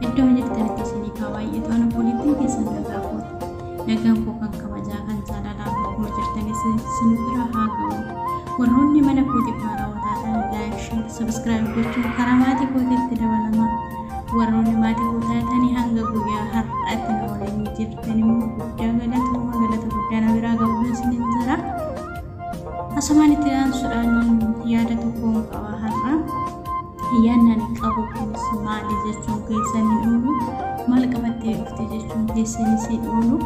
Iddoo jirtanitti isiniif haa baay'atu. Ani obboleettiin keessan nagaa kooti. Nagaan koo kan kabajaa kan jaalalaa bakkuma jirtanis isin bira haa ga'u. Warroonni mana kootiif haarawaa taatan laayik, sheer, sabiskiraayib gochuun karaa maatii kootiitti dabalama. Warroonni maatii koo taatanii hanga guyyaa har'aatti na waliin jirtan immoo guddaa galatooma galata guddaa na biraa ga'uun isiniin jira. Asumaan itti aansuudhaan yaada tokkoon qaba har'a. Ayyaanni ani qabu kunis maali jechuun keessan hin oolu, maal qabattee dhufte jechuun keessanis hin oolu.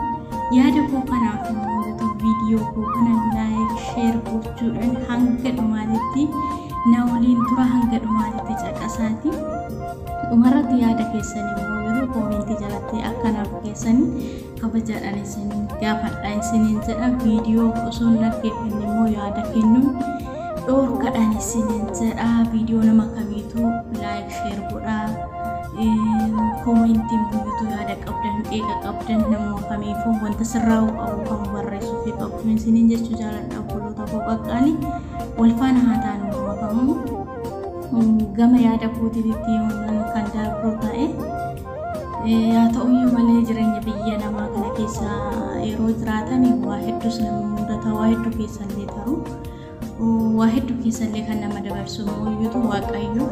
Yaada koo kanaaf immoo YouTube viidiyoo koo kana laayik, sheer gochuudhaan hanga dhumaatitti na waliin tura hanga dhumaatitti caqasaati. Dhumarratti yaada keessan immoo yeroo koomentii jalatti akkanaaf keessan kabajaadhaan isin gaafadha isiniin jedha viidiyoo osoo hin dhaggeeffanne immoo yaada kennuun dhoorkadhaan isiniin jedha viidiyoo nama kamiitu laayik sheer godha koomentii mul'atu yaada qabdan qeeqa qabdan nama kamiifuu wanta sirraa'u qabu kan barreessuu fi qabdu isiniin jechuu jaaladha obboloota koo qaqqaali wal faana haa taanu nama kamuu gama yaada kootiitti yoon kan darbuu ta'e Haa ta'uyyuu malee jireenya biyya namaa kana keessa yeroo jiraatan waa hedduus nama mudata waa hedduu keessallee taru waa hedduu keessallee kan nama dabarsu mooyyuutu waaqayyo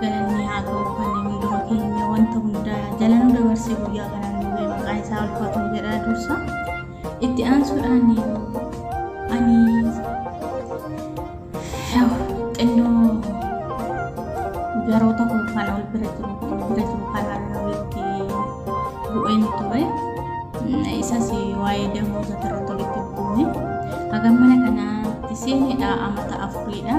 galanni haa ta'u kan inni dura keenya wanta hundaa jalanuu dabarsee guyyaa kanaan nu ga'e maqaan isaa ulfaatu jedhaa dursa. Itti aansuudhaan ani xinnoo yeroo tokko kana ol bira jiru ol bira jiru kanaan walitti bu'een ture. Isas waa'ee damooza irratti walitti bu'uune. Hagam mana kanaatti seenedha amata afuriidha.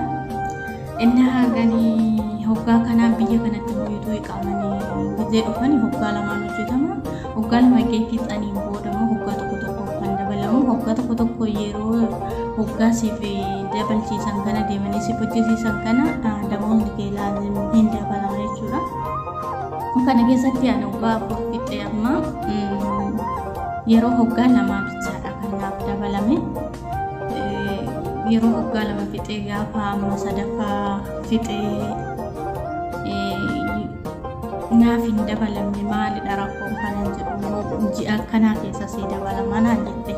Inni haagani hoggaa kanaa biyya kanatti hoyituu iqaamanii biyya dhufani hoggaa lamaan hojjetama. Hoggaa lama eegee fixaniin booda immoo hoggaa tokko tokko kan dabalamu. Hoggaa tokko tokko yeroo hoggaa siif dabalchiisan kana deemanii siif hojjisiisan kana damoonni kee laazim hin dabalama jechuudha. Kana keessatti ani hoggaa afur fixee amma yeroo hoggaa lamaa bichaadha kan naaf dabalame. yeroo waggaa lama fixee gaafa amma sadaffaa fixee naaf hin dabalamne maalidha rakkoon kanan jedhu immoo ji'a akkanaa keessa sii dabalama naan jette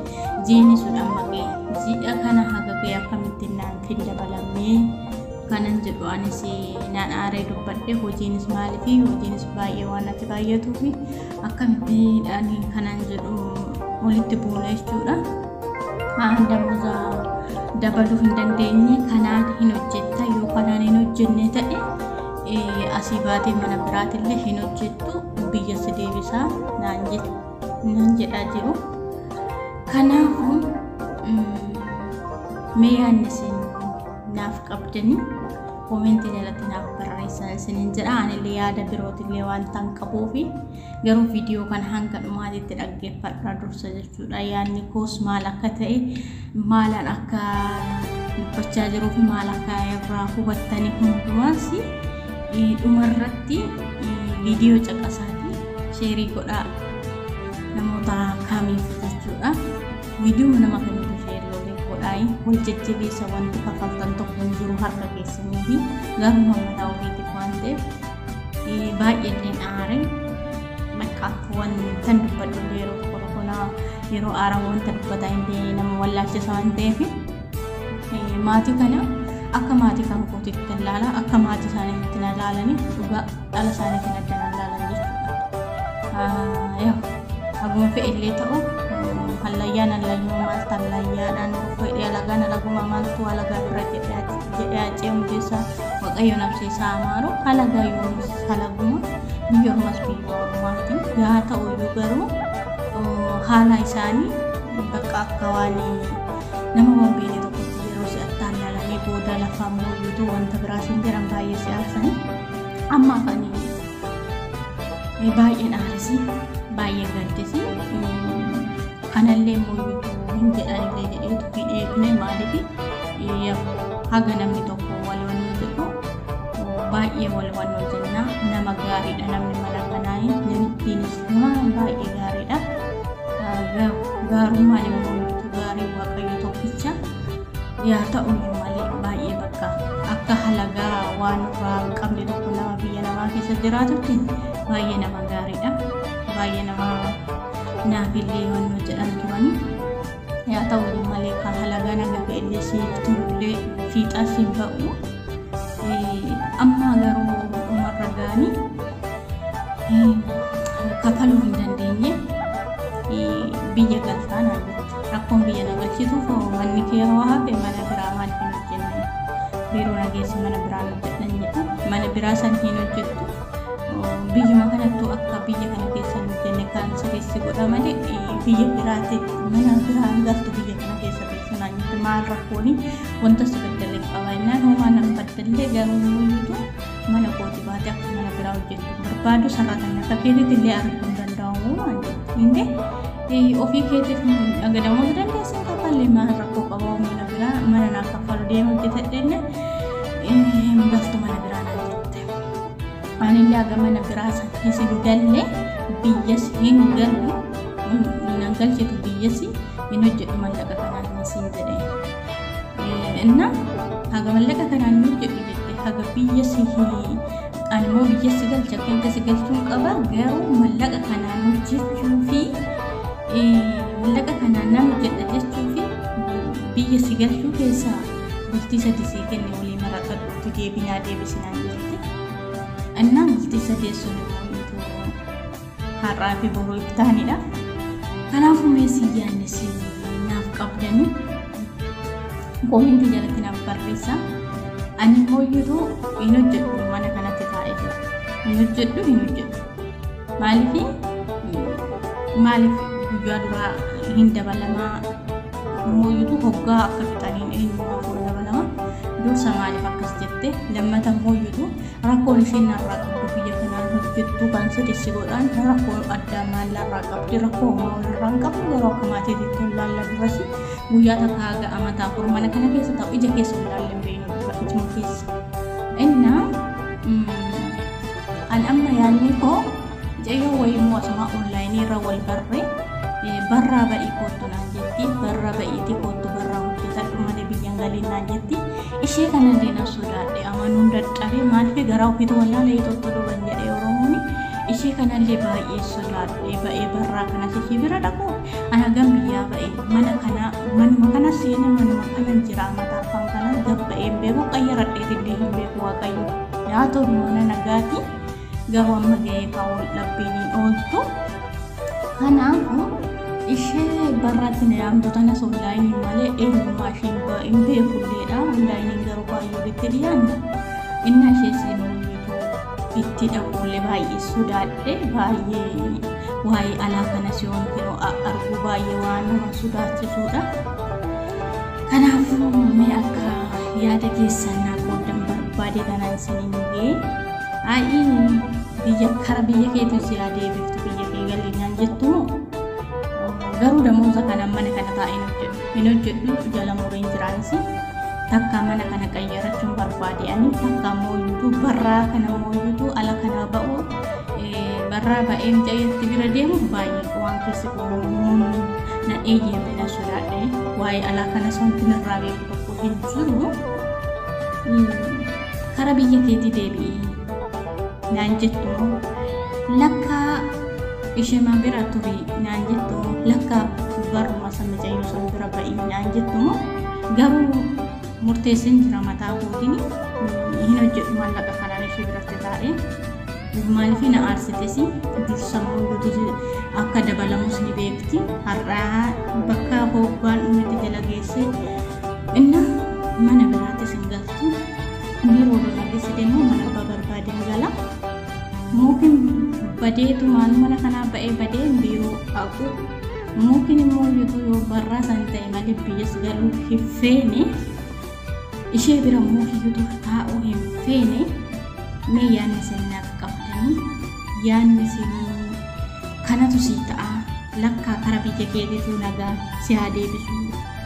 jiini sun amma ga'e ji'a kana haga ga'e akkamittiin naaf hin dabalamne kanan jedhu anis naan aaree dubbadhe hojiinis maaliifi hojiinis baay'ee waan natti baay'atuufi akkamittiin ani kanan jedhu walitti buune jechuudha. damoza dabaluu hin dandeenye kanaan hin hojjetta yoo kanaan hin hojjenne ta'e asii baatee mana biraatillee hin hojjettu biyya si deebisaa naan jedhaa jiru. Kanaafuu mee yaadni isin naaf qabdanii koomentii jalatti naaf barreessaa isiniin jedha anillee yaada birootillee waan ta'an qabuufi Garuu viidiyoo kana hanga dhumaatitti dhaggeeffadhaa dursa jechuudha. Yaadni koos maal akka ta'e, maalan akka dubbachaa jiruu fi maal akka irraa hubattanii hundumaas dhumarratti viidiyoo caqasaatii sheerii godhaa namoota kaamiif jechuudha. Viidiyoo nama kamiitu sheerii waliin godhaayi wal jajjabeessa wanti kaffaltan tokko hin jiru harka keessanii fi garuu mataa ofiitiif waan ta'eef baay'een aare bakka akkuwan tan dubbadhu yeroo kolkolaa yeroo aaraa wanta dubbataa hin ta'e nama wallaalchisa waan ta'eef maatii kana akka maatii kan kootitti hin laala akka maatii isaaniitti na laalanii dhugaa dhala isaaniitiin adda na laalan jechuudha. Yaa haguun fe'illee ta'u hallayyaan hallayyuma maaltu hallayyaadhaan fedhee alagaan alaguma maaltu alagaa bira jedhee ajjeemu keessaa. Waqayyo nabsee isaa amaaru halagaa yoomis halaguma biyya ormas biyya ormaati yaa ta'u iyyuu garuu haalaa isaanii bakka akka waan nama waan beekne tokkotti yeroo si'attaan ilaalamee booda lafaa mooyyuutu wanta biraa siin jedhan baay'ee si'aarsan amma afanii baay'een aarisi baay'ee gaddisi anallee mooyyutu hin jedhanillee jedheetu hin eegne maaliif haga namni tokko wal wannoo jedhu baay'ee wal wannoo jenna nama gaariidha namni mana kanaa namittiinis waan baay'ee gaariidha gaarummaan immoo mooyyutu gaarii waaqayyo tokkicha yaa ta'u malee baay'ee bakka akka halagaa waan irraa hin qabne tokko nama biyya namaa keessa jiraatutti baay'ee nama gaariidha baay'ee nama Naafillee himannoo jedhan turani. Yaa ta'u malee kan halagaa naga fe'ellee siif turullee fiixaa siin ba'u. Amma garuu dhumarra ga'anii kafaluu hin dandeenye biyya galtaa naan jette. Rakkoon biyya na galchituuf manni kee hoo hafe mana biraa maal hin hojjenne biiroo na geessi mana biraa hin hojjedhan jedhe mana biraa san hin hojjettu. biyyuma kanattuu akka biyya kana keessa hin hojjenne kaansarii si godha malee biyya biraatti mana biraan galtu biyya kana keessa teessu naannitti maal rakkooni wanta si baddalee qaba innaan homaa nan baddallee garuu muyyuutu mana kooti baate akka mana biraa hojjettu barbaadu sarratanii akka keetitti illee arguu hin danda'amu waan jedhu ofii keetiif dhagadamoo dandeessan kaffallee maal rakkoo qaba mana biraa mana naaf kaffalu deema hojjetadhenne hin galtu mana biraa Anillee gamana biraa san keessa hin galle biyyas hin galu nan galchitu biyyas hin hojjedhu mallaqa kanaan hin siin jedhe inna haga mallaqa kanaan hin hojjedhu jette haga biyya si ani immoo biyya si galcha keessa si galchuun qaba garuu mallaqa kanaan hojjechuu fi mallaqa kanaan nan hojjedha jechuu fi biyya si galchuu keessaa bultii sadi sii kenne walii marakadhu itti deebinaa deebisinaan jirti. Innaa bultii sadii sun immoo har'aa fi boruu iftaanidha. Kanaafuu mee si yaannis naaf qabdanii koomintii jalatti naaf barreessa. Ani hooyyatu hin hojjedhu mana kanatti taa'ee jira. Hin hojjedhu hin hojjedhu. Maaliif maaliif guyyaa duraa hin dabalamaa mooyyutu hoggaa akka fixaniin eenyummaa kun dabalama dursa maaliif akkas jette lammata mooyyutu rakkoon isheen narraa qabdu biyya kanaan hojjettu kan sodessi godhaan rakkoo addaa maallarraa qabdi rakkoo homaa walirraa hin qabdu yeroo akka maatii jettee laalla durasi guyyaa takka haga amataa afur mana kana keessa ta'u ija keessa hin laalle hin beeknu dubartichuma keessa innaa An amma yaadni koo mucayyoo wayiimmoo asuma onlaayinii irra wal barre barraa ba'ii koottu naan jetti barra ba'iiti koottu barraa hojjetadhu malee biyyan galiin naan jetti ishee kana illee nan sodaadhe amanuun dadhabee maaliif garaa ofiitu wallaalee tokko duban jedhee oromoon ishee kana illee baay'ee sodaadhe ba'ee barraa kanas ishee bira dhaqu ana gam biyyaa ba'e mana kana manuma kana seene manuma kana jira mataa afaan kana gabba'ee hin beeku qayyaradheetillee hin beeku waaqayyo. Yaa ta'u mana nagaati garuu amma ga'ee kaawwan dhabbiin hin ooltu. Kanaafuu ishee barraatti na yaamtu tanas onlaayiniin malee eenyummaa ishee hin beekulleedha. Onlaayiniin garuu baay'ee bitti dhiyaanna. Inni ishee siin mul'itu itti dhabuullee baay'ee sodaadhe baay'ee waa'ee alaa kanas yoon arguu baay'ee waan nama sodaachisuudha. Kanaafuu mee akka yaada keessan naa qooddan barbaade kanaan isiniin ga'e. Aayii biyya kara biyya keetu si haa deebiftu biyya kee galii naan jettu moo? Garuu damooza kanaan mana kana taa'ee hin hojjedhu. Hin hojjedhu jala mureen jiraanis takka mana kana qayyarachuun barbaade ani takka immoo iyyuu barraa kana immoo iyyuu ala kana ba'u eh, barraa ba'ee mucayyatti bira deemu baay'ee waan keessi kun na eeyyame na Yaadhee waa'ee alaa kana wanti narraa beeku tokko hin jiru. Kara biyya keetii deebi'ii naan jettu lakka ishema bira turi naan jettu lakka barruma san mucayyoo san bira ba'ii naan jettu garuu murteessin jira mataa kootiin hin hojjedhu maallaqa kanaan ishee biratti taa'ee. Maaliif na aarsites dursa immoo duuti akka dabalamus ni beekti. Har'aa bakka hoobbaan dhumatti jala geessee inna mana biraattis hin galtu. Biiroo lolaa keessatti immoo mana abbaa barbaade hin gala. Mookin badeetu maal mana kanaa ba'ee badee biiroo dhaqu. Mookin immoo yoo barraa san ta'e malee biyyas galuu hin feene. ishee bira immoo hiyyutu taa'uu hin feene mee yaadni seenaaf qabdanii yaadni seenaa kanatu sii ta'a lakkaa kara biyya keetiitu nagaa si haa deebisu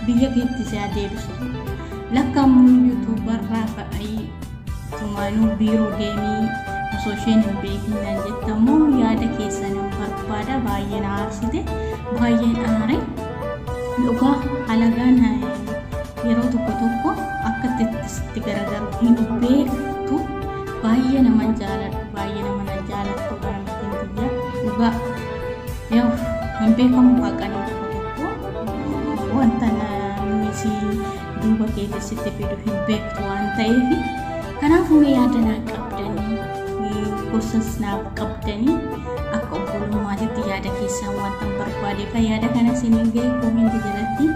biyya keetti si haa deebisu lakka immoo yuutuubarraa fa'ii tumaanuu biiroo deemii osoo isheen hin beekin nan jetta immoo yaada keessan hin barbaada baay'ee na aarsite baay'een aare dhugaa halagaan yeroo tokko tokko akka itti sitti garagaru hin beektu baay'ee naman jaaladhu baay'ee naman jaalattu bara mittiin biyya dhugaa yoo hin beekamu haqanii tokko tokko wanta namni si duuba keessa sitti fidu hin beektu waan ta'eef Kanaafuu mee yaada naaf qabdanii gorsas naaf qabdanii akka obbolummaatitti yaada keessaan wanta barbaade kan yaada kana isiniin ga'e koominti jalatti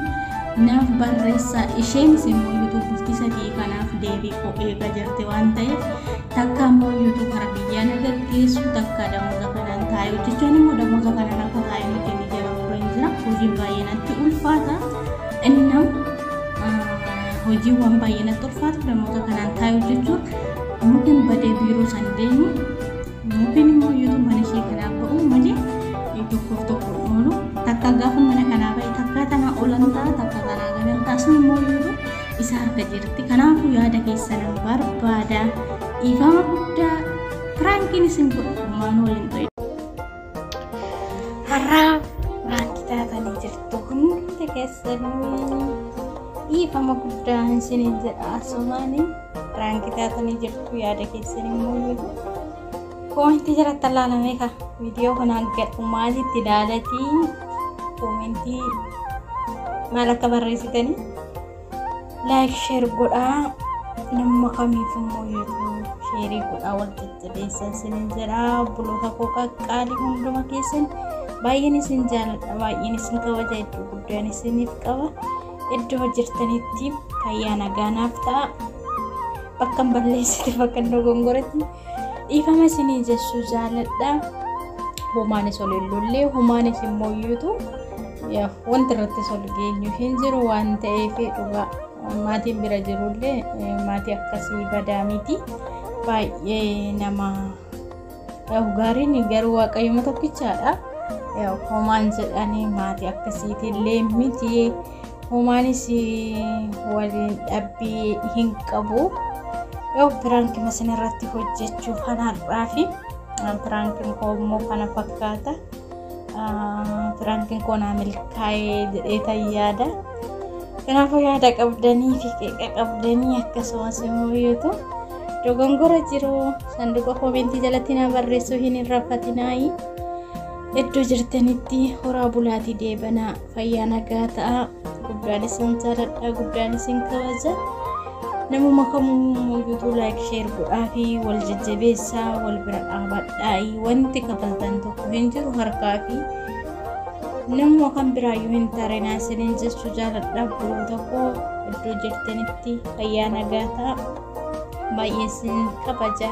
naaf barreessa isheenis immoo yuutuubufti sadii kanaaf deebii koo eegaa jirti waan ta'eef takka immoo yuutuub hara biyyaa na gaggeessu takka damoota kanaan taa'e hojjechaan immoo damoota kanaan akka taa'e nuti ni jira hojiin baay'ee natti ulfaata innam hojiiwwan baay'ee natti ulfaatu namoota kanaan taa'e hojjechuun mukin badee biiroo san deemu mukin immoo yeroo mana ishee kanaa ba'u malee tokkoof tokko oolu takka gaafa mana kanaa ba'e takka tanaa olan ta'a takka tanaa galan ta'a sun immoo yeroo isa harka jirti kanaafuu yaada keessan barbaada dhiifama guddaa piraankiin isin godhu maanuu waliin ta'e. Har'aa maatii taatanii jirtu hundi keessanii dhiifama guddaa isiniin jedha asumaani raanki taatanii jirtu yaada keessan immoo yoo koomentii jalatti laalamee ka viidiyoo kana gadhu maalitti ilaalatii koomentii maal akka barreessitanii Like share godhaa namma kamiif immoo YouTube sheerii godhaa wal jajjabeessaa isinin jedha obboloota koo qaqqaalii hunduma keessan baay'een isin jaalladha baay'een isin kabaja iddoo guddaan isiniif qaba iddoo jirtanitti fayyaa nagaanaaf ta'a bakkan balleessite bakkan dogongoretti Dhiifama isinii jechuu jaaladha. Humaanis ol hin lollee humaanis hin mooyyuutu wanti irratti ol geenyu hin jiru waan ta'eef dhugaa maatiin bira jirullee maatii akkasii badaa miti baay'ee nama gaariin garuu waaqayyooma tokkichaadha. Homaan jedhanii maatii akkasiitillee miti. Homaanis waliin dhabbii hin qabu. Yoo piraanki masin irratti hojjechuuf kan har'aa fi piraankiin koo immoo kana fakkaata. Piraankiin koo naa milkaa'ee jedhee tan yaada. Kanaafuu yaada qabdanii fi qeeqa qabdanii akkasumas immoo yootu dogongora jiru sanduuqa koomentii jalatti na barreessuu hin irrafatinaayi. Iddoo jirtanitti horaa bulaatii deebanaa. fayyaa nagaa ta'a guddaan isin jaaladha guddaan isin kabaja namuma kamuu yuutuu laayik sheer godhaa fi wal jajjabeessaa wal bira dhaabadhaa'i wanti kafaltan tokko hin jiru harkaa fi namuma kan biraayyuu hin tarinaa isiniin jechuu jaaladha biroo tokko iddoo jirtanitti fayyaa nagaa ta'a. baay'een isin kabaja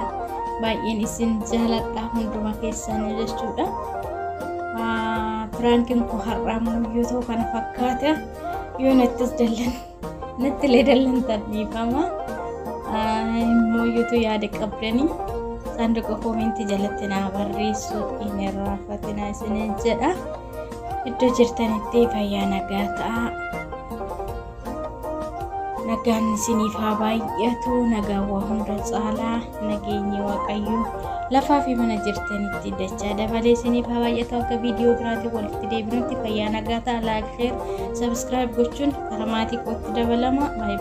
baay'een isin jaaladha hunduma keessanii jechuudha piraankiin koo har'aa yoo ta'u kana fakkaata yoo nattis dallan natti illee dallan tarbiifama immoo yoo yaada qabdanii saanduqa koomentii jalatti naa barreessu hin irraanfatinaa isiniin jedha iddoo jirtanitti fayyaa nagaa ta'a. Nagaan isiniif haa baay'atu nagaa waa hunda caalaa nageenyi waaqayyo lafaa fi mana jirtanitti dachaa dabalee isiniif haa baay'atu akka viidiyoo biraatiin walitti deebinutti fayyaa nagaa ta'a laayik sheer sabiskiraayib gochuun karaa maatii kootti dabalama baay'ee.